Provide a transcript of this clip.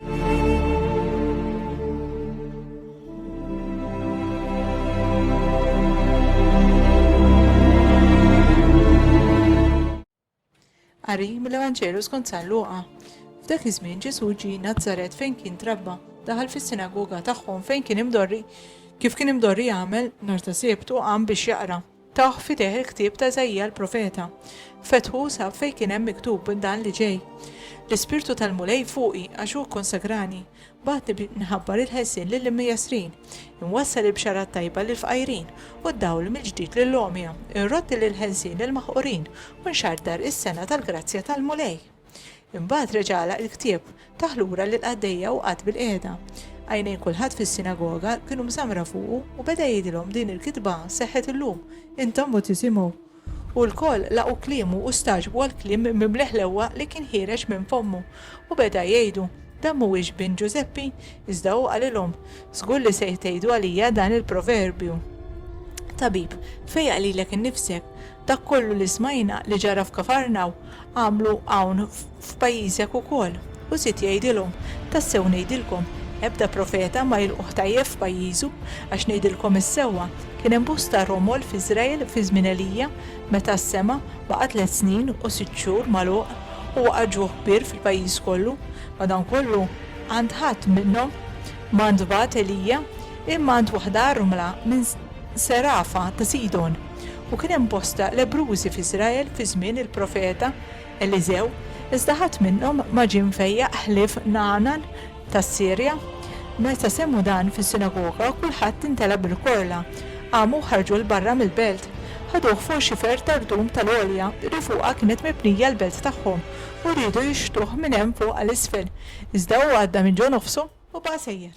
Qari mill-Evanġelu skont San Luqa. F'dak iż-żmien Ġesù ġie Nazaret fejn kien trabba, daħal fis-sinagoga tagħhom fejn kien imdorri, kif kien imdorri jagħmel nhar ta' Sibt u qam biex jaqra. Tah f'idejh il-ktieb ta' Iżaija l-profeta. Fetħu u sab fejn kien hemm miktub dan li ġej, L-Ispirtu tal-Mulej fuqi, għax hu kkonsagrani. Bagħatni biex nħabbar il-ħelsien lill-imjessrin, inwassal il-bxara t-tajba lill-fqajrin, u d-dawl mill-ġdid lill-għomja, inrodd il-ħelsien lill-maħqurin, u nxarrtar is-sena tal-grazzja tal-Mulej. Imbagħad reġa' għalaq il-ktieb, tah lura lill-qaddejja u qagħad bilqiegħda. Għajnejn kulħadd fis-sinagoga kienu mżammra fuqu u beda jgħidilhom din il-kitba seħħet illum. Intom u tisimgħu. U lkoll laqgħu kliemu u stagħġbu għall-kliem mimli ħlewwa li kien ħiereġ minn fommu. U beda jgħidu, Dan m'huwiex bin Ġużeppi? Iżda hu qalilhom, Żgur li se jtgħidu għalija dan il-proverbju, Tabib, fejjaq lilek innifsek. Dak kollu li smajna li ġara f'Kafarnaw, għamlu hawn f'pajjiżek ukoll. U żied jgħidilhom, Tassew ngħidilkom, ebda profeta ma jilqugħ tajjeb f'pajjiżu. Għax ngħidilkom is-sewwa, kien hemm bosta romol f'Iżrael fi żmien Elija, meta s-sema baqa' tliet snin u sitt xhur magħluq, u waqa' ġuħ kbir fil-pajjiż kollu, madankollu għand ħadd minnhom ma ntbagħat Elija, imma għand waħda armla minn Serafa ta' Sidon. u kien hemm bosta lebbrużi f'Iżrael fi żmien il-profeta Eliżew, iżda ħadd minnhom ma ġie mfejjaq ħlief Nagħanan tas-Sirja. Meta semgħu dan fis-sinagoga, kulħadd intela' bil-korla. Qamu, ħarġu 'l barra mill-belt. Ħaduh fuq xifer ta' rdum tal-għolja li fuqha kienet mibnija l-belt tagħhom u riedu jixħtuh minn hemm fuq għal isfel, iżda hu għadda minn ġo nofsu u baqa' sejjer.